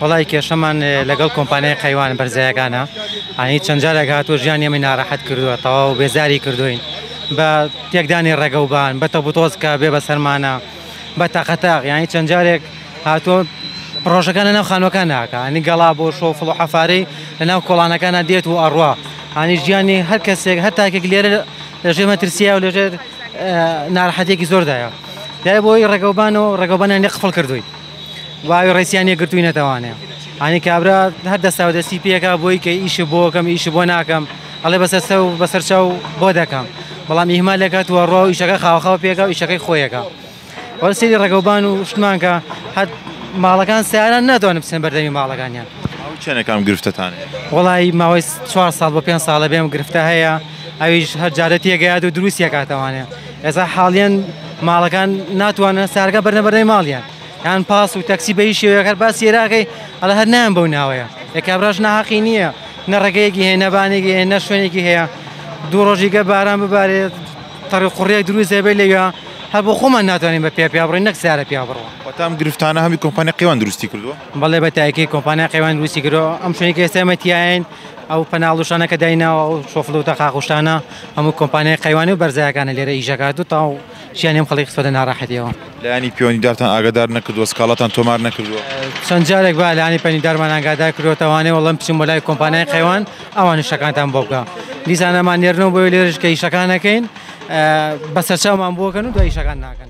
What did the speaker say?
وەڵای کێشەمان لەگەڵ کۆمپانیای قەیوان بەرزایەکانە ئەنی چەند جارێک هاتووە ژیان ئێمەی ناڕەحەت کردووە تەواو و بێزاری کردوین بە تێکدانی ڕێگەوبان بە تەبوتۆزکە بێ بە سەرمانە بە تەقەتاق یانی چەند جارێک هاتووە پرۆژەکان لەناو خانوەکان ناکە ئەنی گەڵا بۆ شۆ فڵ و حەفارەی لەناو کۆڵانەکانە دێت و ئەڕوا ئەنی ژیانی هەر کەسێک هەر تاکێک لێرە لە ژێ مەترسیە و لەژێر ناڕەحەتێکی زۆردایە دای بۆی ڕێگەوبان و ڕێگەوبانیان لێ قفڵ کردووی واوی ڕێسیان نێگرتووی نەتەوانێ ئانی کابرا هەر دەستا و دەستی پێکا بۆی کە ئیش بۆکەم ئیش بۆ ناکەم ئەڵێ بەسەر سە و بەسەر چاو بۆ دەکەم بەڵام ئیهما لەکات وە ڕۆ ئیشەکە خاوخاو پێکا و ئیشەکەی خۆیەکە وەرسری ڕێگەوبان و شتمانکە هەت ماڵەکان سیاران ناتوانم بچن بەردەمی ماڵەکانیان چەنەکان گرفتتان وڵی ماوەی چوار ساڵ بۆ پێ ساڵە بێم گرفتە هەیە ئەویش هەر جارەتیەگەیات و دروستیەکاتەوانێت ئێستا حاڵیەن ماڵەکان ناتوانن سارگە بەرنە بەرەی ماڵیان یان پاس و تەکسی بەی شێوەکەر باس سێراکەی ئەڵ هەر نایان بەو ناوەیە یەکابراش ناحقی نییە نە ڕێگەیەکی هەیە نەبانێکی هەیە نە شوێنێکی هەیە دوو ڕۆژیگە باران ببارێت تەڕی قوڕێک دروست هەبێ لەوە هەر بۆ خۆمان ناتوانین بە پێ پیا بڕین نەک سارە پیا بڕوە وەتام گرفتانە هەمی کۆمپانی قیوان دروستی کردو بەڵێ بە تایکی کۆمپانیا قیوان دروستی کرۆ ئەم شوێنی کەێستێمەتیایەن ئەو پەناڵوشانەکە دایناوە و شۆفلوتە خاخشتانە هەموو کۆمپانیای قەیوانی و بەرزایەکانە لێرە ئیش دەکات و تەواو ژیانی ئەم خەڵکی خستۆتە ناڕەحەتیەوە. لایەنی پێوەندیدارتان ئاگادار نەکردووە؟ سکاڵاتان تۆمار نەکردووە؟ چەند جارێک بە لایەنی پەیوەندیدارمان ئاگادار کردووە تاوانێ وەڵڵا من بچم بۆ لای کۆمپانیای قەیوان ئەوان ئیشەکانتان بۆ بکا دیسان ئەمان نێرنەوە بۆیە لێرەش کە ئیشەکان نەکەین بە سەرچاومان بۆ کەن و دوای ئیشەکان ناکەن.